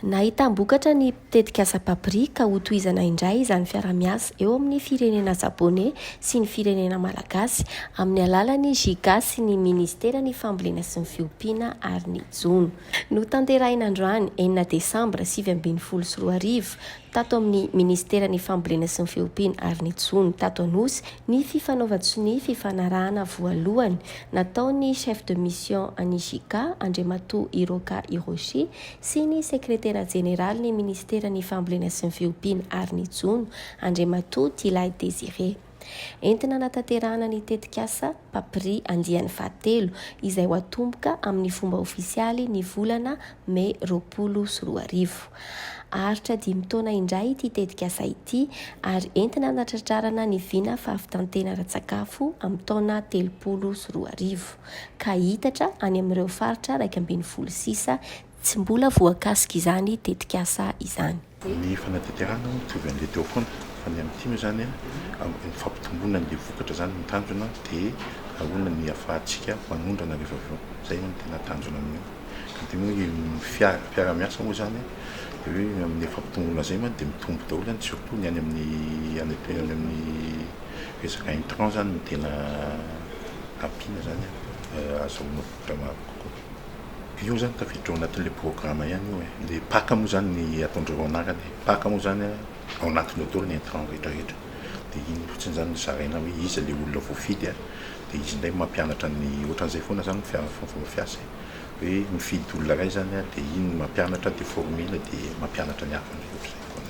Nahitam-bokatra ny tetikasa Papri ka hotohizana indray izany fiaraha-miasa eo amin'ny firenena Japoney sy ny firenena Malagasy amin'ny alalan'ny JICA sy ny Ministeran'ny Fambolena sy ny Fiompiana ary ny Jono. Notanterahina androany enina desambra sivy ambin'ny folo sy roa arivo tato amin'ny Ministeran'ny Fambolena sy ny Fiompiana ary ny Jono tato Anosy ny fifanaovan-tsonia fifanarahana voalohany nataon'ny Chef de Mission an'i JICA, Andriamatoa Hiroka Hiroshi, sy ny Sekretera Jeneralin'ny Ministeran'ny Fambolena sy ny Fiompiana ary ny Jono, Andriamatoa Tilay Désiré. Entina hanatanterahana ny tetikasa Papri andiany fahatelo, izay ho atomboka amin'ny fomba ofisialy ny volana Mey roapolo sy roa arivo. Haharitra dimy taona indray ity tetikasa ity ary entina hanatratrarana ny vina fahavitan-tena ara-tsakafo amin'ny taona telopolo sy roa arivo, ka hihitatra any amin'ireo faritra iraika ambin'ny folo sisa Tsy mbola voakasika izany tetikasa izany. Ny fanadihadiahana hono mitovy an'ilay teo foana fa ny amin'ity moa izany ny fampitomboana an'ilay vokatra izany no tanjona dia ahoana ny ahafahantsika manondrana rehefa avy eo. Izay hono no tena tanjona amin'io. Ka dia moa ny fiaraha-miasa moa izany dia hoe amin'ilay fampitomboana izay mantsy dia mitombo daholo izany surtout ny any amin'ny any amin'ny resaka intrant izany no tena ampiana izany ahazahoana vokatra maro kokoa. Io zany tafiditra ao anatin'ilay programa ihany io e, ilay pac moa zany ny ataondreo ao anarany e, pac moa zany a ao anatiny ao daholo ny intrant rehetra rehetra de iny fotsiny zany no zaraina hoe iza le olona voafidy a, de izy ndray mampianatra ny otran'izay foana zany ny fomba fiasa e, hoe mifidy olona ray zany a de iny mampianatra de formule de mampianatra ny hafa ndray otran'izay foana.